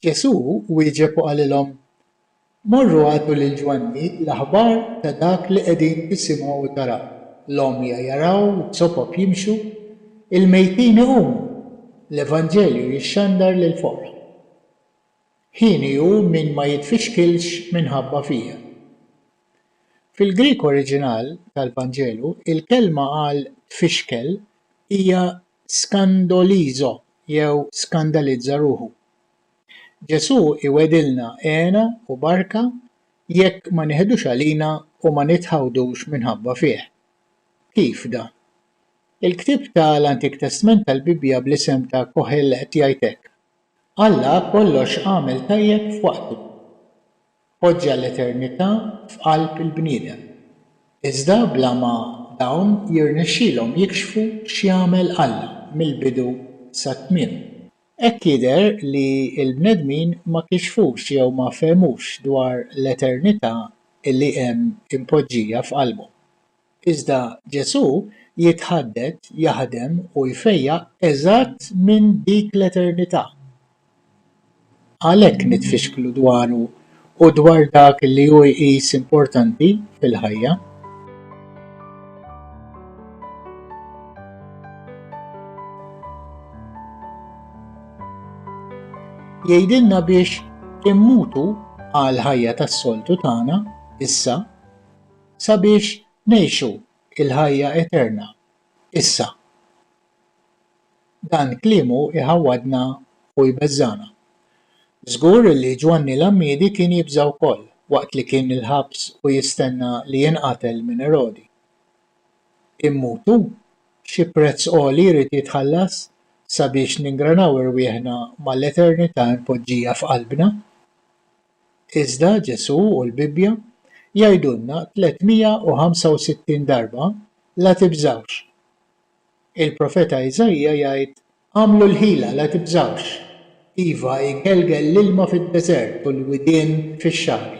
Ġesù wieġeb u qalilhom, Morru agħtu lil Ġwanni l-aħbar ta' dak li qegħdin tisimgħu u taraw, l-għomja jaraw, iz-zopop jimxu, il-mejtin iqumu, l-evanġelju jixxandar lill-foqra. Ħini hu min ma jitfixkilx minħabba fija. Fil-Grieg oriġinal tal-Vanġelu, il-kelma għal tfixkel hija skandolizo jew skandalizza ruħu. Ġesù iwegħdilna hena u barka jekk ma niħdux għalina u ma nitħawdux minħabba fih. Kif dan? Il-ktieb ta' l-Antik Testment tal-Bibbja bl-isem ta' Kohelet jgħid hekk, Alla kollox għamel tajjeb f'waqtu. Poġġa l-eternità f'qalb il-bniedem, iżda bla ma dawn jirnexxilhom jikxfu x'jagħmel Alla mill-bidu sat-tmiem. Hekk jidher li l-bnedmin ma kixfux jew ma fehmux dwar l-eternità li hemm impoġġija f'qalbhom. Iżda Ġesù jitħadded, jaħdem u jfejjaq eżatt minn dik l-eternità. Għalhekk nitfixklu dwaru u dwar dak li hu jqis importanti fil-ħajja. Jgħidilna biex immutu għall-ħajja tas-soltu tagħna issa. sabiex ngħixu l-ħajja eterna issa. Dan kliemu jħawwadna u jbeżżagħna. Żgur li Ġwanni l-Għammiedi kien jibża' wkoll waqt li kien il-ħabs u jistenna li jinqatel minn Erodi. Immutu? Xi prezz għoli jrid jitħallas sabiex ningranaw irwieħna mal-eternità mpoġġija f'qalbna? Iżda Ġesù u l-Bibbja jgħidulna 365 darba, La tibżgħux. Il-profeta Iżaija jgħid, Agħmlu l-ħila, la tibżgħux. Iva, igelgel l-ilma fid-deżert u l-widien fix-xagħri.